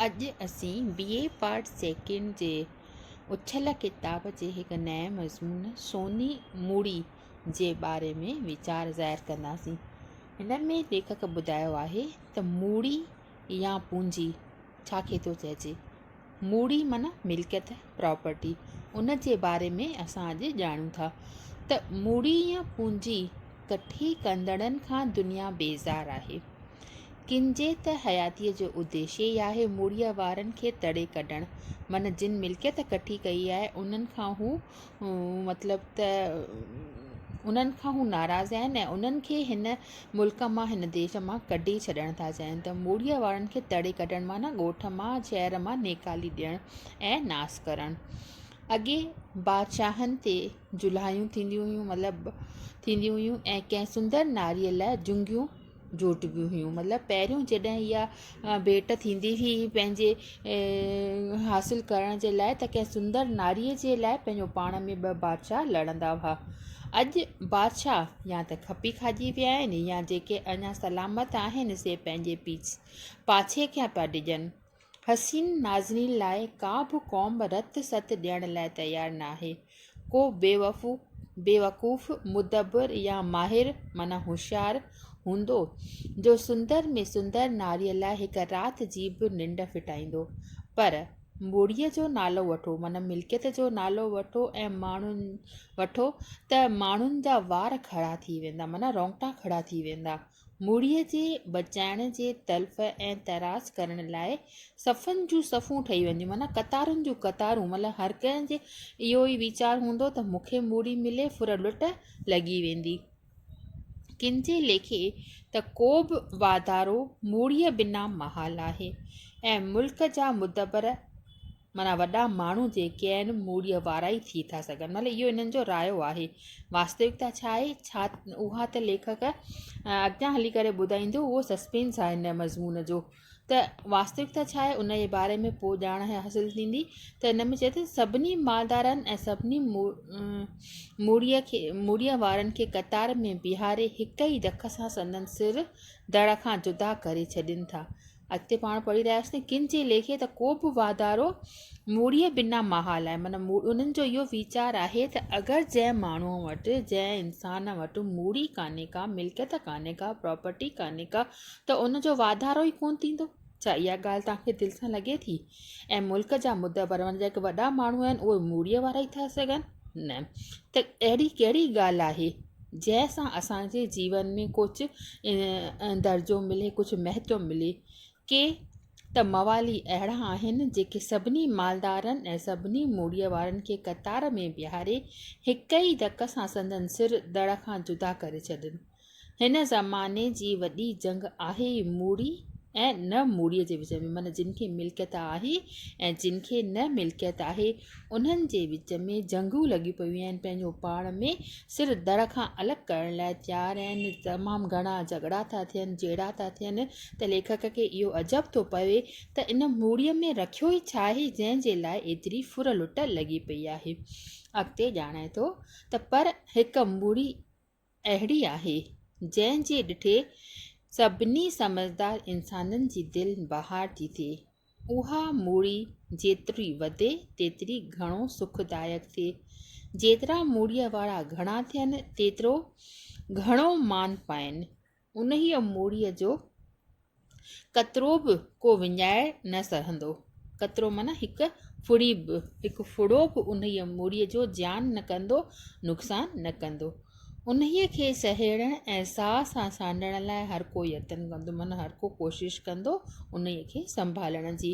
اڄ اسين B A part second جي اڇل ڪتاب جي هڪ نئين مضمون سوني موڙي جي باري ۾ ويچار ظاهر ڪنداسين. هن ۾ ليکڪ ٻڌايو آهي ته موڙي يا پونجي ڇا کي ٿو چئجي؟ موڙي معنيٰ ملڪيت پراپرٽي، ان جي باري ۾ اسان اڄ ڄاڻون ٿا ته مڙي يا پونجي ڪٺي ڪندڙن کان دنيا بيزار آهي. ڪن جي ته حياتيء جو اديشي ئي آهي مڙيء وارن کي تڙي ڪڍڻ، معنيٰ جن ملڪيت ڪٺي ڪئي آهي انهن کان هو مطلب ته انهن کان هو ناراض آهن ۽ انهن کي هن ملڪ مان هن ديش مان ڪڍي ڇڏڻ ٿا چاهين ته موڙيء وارن کي تڙي ڪڍڻ معنيٰ ڳوٺ مان شهر مان نيڪالي ڏيڻ ۽ ناس ڪرڻ. اڳي بادشاهن تي جلهايون ٿينديون هيون مطلب ٿينديون هيون ۽ ڪنهن سندر ناريء لاء جهنگيون جوٽبيون هيون مطلب پهريون جڏهن اها ڀيٽ ٿيندي هئي پنهنجي حاصل ڪرڻ جي لاء ته ڪنهن سندر ناري جي لاء پنهنجو پاڻ ۾ ٻه بادشاهه لڙندا هئا اڄ بادشاهه يا ته کپي کائجي ويا آهن يا جيڪي اڃا سلامت آهن سي پنهنجي پيچ پاڇي کي پيا ڊڄن حسين نازنين لاء ڪا به قوم رت ست ڏيڻ لاء تيار ناهي ڪو بيوقوف، مدبر يا ماهر معنيٰ هوشيار هوندو، جو سندر ۾ سندر ناريء لاء هڪ رات جي به ننڊ ڦٽائيندو. پر مڙهيء جو نالو وٺو، معنيٰ ملڪيت جو نالو وٺو ۽ وٺو ته ماڻهن جا وار کڙا ٿي ويندا، معنيٰ رونگٽا کڙا ٿي ويندا. مڙهيء جي بچائڻ جي تلف ۽ تراس ڪرڻ لاء صفن جون صفون ٺهي وينديون معنيٰ قطارن جون قطارون مطلب هر ڪنهن جي اهو ئي ويچار هوندو ته مون کي مڙهي ملي ڦر لٽ لڳي ويندي. ڪن جي ليکي ته ڪو به واڌارو مڙهيء بنا محال آهي ۽ ملڪ جا مدبر معنيٰ وڏا ماڻهو جيڪي آهن موڙيء وارا ئي ٿي ٿا سگهن مطلب اهو انهن جو رايو آهي. واستوڪتا ڇا آهي؟ ڇا اها ته ليکڪ اڳتيان هلي ڪري ٻڌائيندو اهو سسپينس آهي هن مضمون جو ته واستوڪتا ڇا آهي ان جي باري ۾ پوء ڄاڻ حاصل ٿيندي ته هن ۾ چئي ٿو سڀني مالدارن ۽ سڀني موڙيء کي موڙيء وارن کي قطار ۾ بيهاري هڪ ئي دک سان سندن سر دڙ کان جدا ڪري ڇڏين ٿا اڳتي پاڻ پڙهي رهياسين ڪن جي ليکي ته ڪو به واڌارو موڙيء بنا محال آهي معنيٰ انهن جو اهو ويچار آهي ته اگر جنهن ماڻهو وٽ جنهن انسان وٽ موڙي ڪانهي ڪا ملڪيت ڪانهي ڪا پراپرٽي ڪانهي ڪا ته ان جو واڌارو ئي ڪونه ٿيندو ڇا اها ڳالهه توهان کي دل سان لڳي ٿي ۽ ملڪ جا مدبر معنيٰ جيڪي وڏا ماڻهو آهن اهي موڙيء وارا ئي ٿا سگهن نه ته اهڙي ڪهڙي ڳالهه آهي جنهن سان اسان جي جيون ۾ ڪجهه درجو ملي ڪجهه مهتو ملي ڪي ته موالي اهڙا آهن جيڪي سڀني مالدارن ۽ سڀني مڙهيء وارن کي قطار ۾ بيهاري هڪ ئي ڌڪ سان سندن سر دڙ کان جدا ڪري ڇڏن. هن زماني جي وڏي جنگ آهي ئي مڙهي ۽ نه مڙهيء جي وچ ۾، معنيٰ جن کي ملڪيت آهي ۽ جن کي نه ملڪيت آهي، انهن جي وچ ۾ جهنگون لڳيون پيون آهن، پنهنجو پاڻ ۾ سر در کان الڳ ڪرڻ لاء تيار آهن، تمام گهڻا جهڳڙا ٿا ٿين، جهيڙا ٿا ٿين ته ليکڪ کي اهو عجب ٿو پوي ته ان موڙيء ۾ رکيو ئي ڇا آهي جنهن جي لاء ايتري ڦر لٽ لڳي پئي آهي. اڳتي ڄاڻائي ٿو ته پر هڪ موڙي. اهڙي آهي، جنهن جي ڏٺي سڀني سمجهدار انسانن جي دل بهار ٿي ٿئي. اها موڙي جيتري وڌي، تيتري گهڻو سک دائق ٿئي. جيترا موڙيء وارا گهڻا ٿين، تيترو گهڻو مان پائين. انهيء موڙيء جو قطرو به ڪو وڃائي نه سهندو. قطرو معنيٰ هڪ ڦڙي به، هڪ ڦڙو به انهيء موڙيء جو زيان نه ڪندو، نقصان نه ڪندو. انهيء کي سهيڙڻ ۽ ساهه سان سانڍڻ لاء هر ڪو يتن ڪندو، معنيٰ هر ڪو ڪوشش ڪندو انهيء کي سنڀالڻ جي.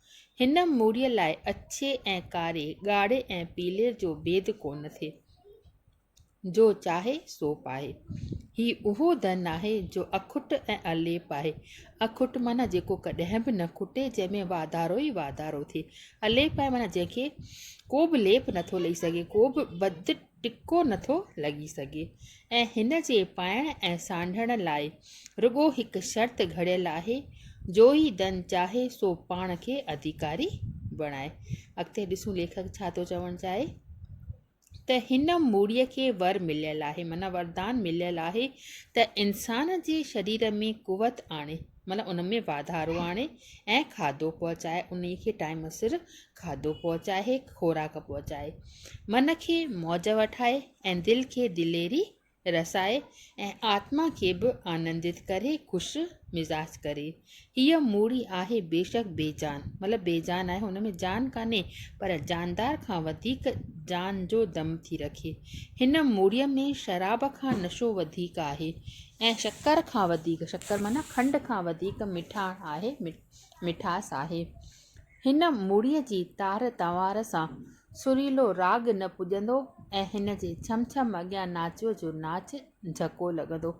هن موريء لاء اڇي ۽ ڪاري، ڳاڙهي ۽ پيلي جو ڀيد ڪونه ٿئي. جو چاهي سو پائي. هي اهو ڌن آهي جو اکٽ ۽ اليپ آهي. اکٽ معنيٰ جيڪو ڪڏهن به نه کٽي، جنهن ۾ واڌارو ئي واڌارو ٿئي. اليپ آهي معنيٰ جنهن کي ڪو به ليپ نٿو لهي سگهي، ڪو به بد ٽڪو نٿو لڳي سگهي ۽ هن جي پائڻ ۽ سانڍڻ لاء رڳو هڪ شرط گهڙيل آهي جو ئي دن چاهي سو پاڻ کي اڌيڪاري بڻائي. اڳتي ڏسون ليکڪ ڇا ٿو چوڻ چاهي ته هن مڙهيء کي ور مليل آهي معنيٰ وردان مليل آهي ته انسان جي شرير ۾ قوت آڻي، معنيٰ ان ۾ واڌارو آڻي ۽ کاڌو پهچائي انهي کي ٽائيم سر کاڌو پهچائي خوراڪ پهچائي من کي موج وٺائي ۽ دل کي دليري رسائي ۽ آتما کي به آنندت ڪري خوش مزاج ڪري هيء موڙي آهي بيشڪ بي جان مطلب بي جان آهي ان ۾ جان ڪانهي پر جاندار کان وڌيڪ جان جو دم ٿي رکي هن موڙي ۾ شراب کان نشو وڌيڪ آهي ۽ شڪر کان وڌيڪ، شڪر معنيٰ کنڊ کان وڌيڪ مٺاڻ آهي، مٺاس آهي. هن مڙهيء جي تار تنوار سان سريلو راڳ نه پڄندو ۽ هن جي ڇم ڇم اڳيان ناچوء جو ناچ جهڪو لڳندو.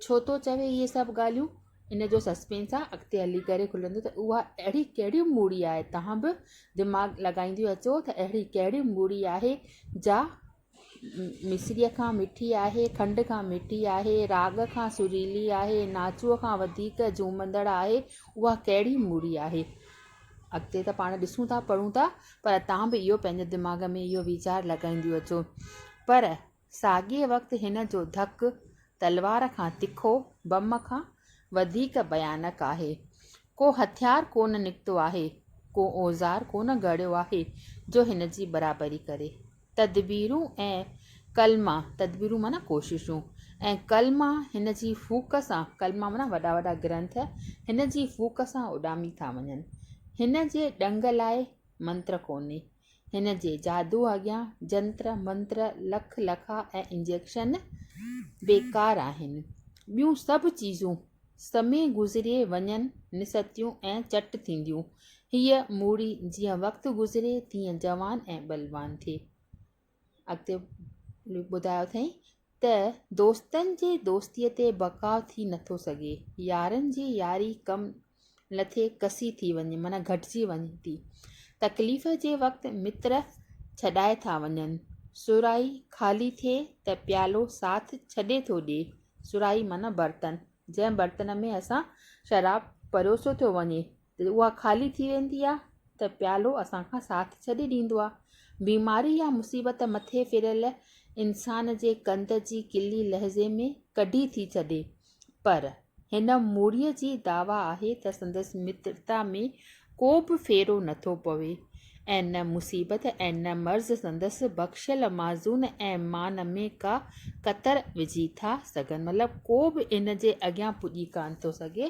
ڇو ٿو چوي اهي سڀ ڳالهيون؟ ان جو سسپينس آهي، اڳتي هلي ڪري کلندو ته اها اهڙي ڪهڙي مڙهي آهي، توهان به دماغ لڳائينديون اچو ته اهڙي ڪهڙي مڙهي آهي جا مصريء کان مٺي آهي، کنڊ کان مٺي آهي، راڳ کان سريلي آهي، ناچوء کان وڌيڪ جهومندڙ آهي، اها ڪهڙي مڙي آهي؟ اڳتي ته پاڻ ڏسون ٿا، پڙهون ٿا، پر توهان به اهو پنهنجي دماغ ۾ اهو ويچار لڳائينديون اچو. پر ساڳئي وقت هن جو ڌڪ تلوار کان تکو، بم کان وڌيڪ ڀيانڪ آهي. ڪو هٿيار ڪونه نڪتو آهي، ڪو اوزار ڪونه گهڙيو آهي جو هن جي برابري ڪري. تدبيرون ۽ ڪلما، تدبيرون معنيٰ ڪوششون، ۽ ڪلما هن جي ڦوڪ سان، ڪلما معنيٰ وڏا وڏا گرنٿ، هن جي ڦوڪ سان اڏامي ٿا وڃن. هن جي ڏنگ لاء منتر ڪونهي. هن جي جادو اڳيان جنتر منتر لک لکا ۽ انجيڪشن بيڪار آهن. ٻيون سڀ چيزون سمي گذري وڃن نستيون ۽ چٽ ٿينديون. هيء موڙي جيئن وقت گذري تيئن جوان ۽ بلوان ٿئي. اڳتي ٻڌايو اٿئي ته دوستن جي دوستي تي بقا ٿي نٿو سگهي يارن جي ياري ڪم لٿي ڪسي ٿي وڃي معنيٰ گهٽجي وڃي ٿي تڪليف جي وقت متر ڇڏائي ٿا وڃن سرائي خالي ٿئي ته پيالو ساٿ ڇڏي ٿو ڏي سرائي معنيٰ برتن جنهن برتن ۾ اسان شراب پروسيو ٿو وڃي جڏهن اها خالي ٿي ويندي آهي ته پيالو اسان کان ساٿ ڇڏي ڏيندو آهي. بيماري يا مصيبت مٿي ڦريل انسان جي ڪنڌ جي ڪلي لحظي ۾ ڪڍي ٿي ڇڏي پر هن مڙهيء جي دعويٰ آهي ته سندس مترتا ۾ ڪو به ڦيرو نٿو پوي ۽ نه مصيبت ۽ نه مرض سندس بخشيل معزون ۽ مان ۾ ڪا ڪتر وجهي ٿا سگهن مطلب ڪو به ان جي اڳيان پڄي ڪانه ٿو سگهي.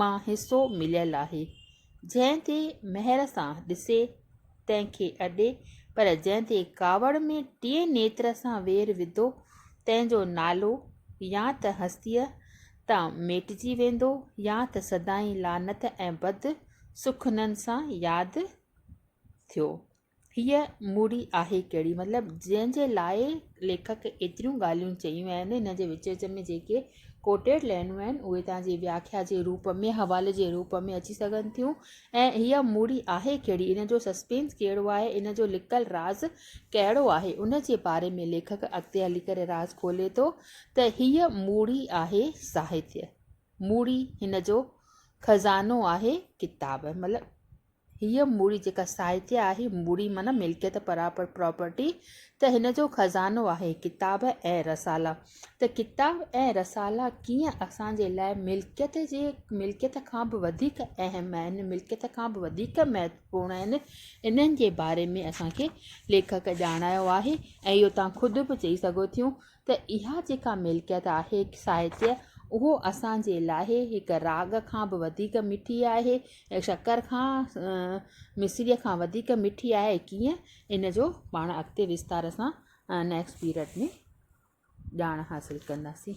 مان حصو مليل آهي. جنهن تي مهر سان ڏسي تنهن کي اڏي، پر جنهن تي ڪاوڙ ۾ ٽئين نيتر سان وير وڌو، تنهن جو نالو يا ته هستيء تان ميٽجي ويندو يا ته سدائين لعنت ۽ بد سخنن سان ياد ٿيو هيء موڙي آهي ڪهڙي؟ مطلب جنهن جي لاء ليکڪ ايتريون ڳالهيون چيون آهن، هن جي وچ وچ ۾ جيڪي Quoted لائنون آهن، اهي توهان جي وياکيا جي روپ ۾، حوالي جي روپ ۾، اچي سگهن ٿيون ۽ هيء موڙي آهي ڪهڙي؟ ان جو سسپينس ڪهڙو آهي؟ ان جو لڪل راز ڪهڙو آهي؟ ان جي باري ۾ ليکڪ اڳتي هلي ڪري راز کولي ٿو ته هيء موڙي آهي ساهتيه، موڙي هن جو خزانو آهي ڪتاب. مطلب هيء مڙي جيڪا ساهتيه آهي، مڙي معنيٰ ملڪيت، پراپر، Property، ته هن جو خزانو آهي، ڪتاب ۽ رسالا. ته ڪتاب ۽ رسالا ڪيئن اسان جي لاء ملڪيت جي ملڪيت کان به وڌيڪ اهم آهن، ملڪيت کان به وڌيڪ مهتوپورڻ آهن، انهن جي باري ۾ اسان کي ليکڪ ڄاڻايو آهي ۽ اهو توهان خود به چئي سگهو ٿيون ته اها جيڪا ملڪيت آهي ساهتيه اهو اسان جي لاء هڪ راڳ کان به وڌيڪ مٺي آهي ۽ شڪر کان مصريء کان وڌيڪ مٺي آهي ڪيئن ان جو پاڻ اڳتي وستار سان نيڪسٽ پيرڊ ۾ ڄاڻ حاصل ڪنداسين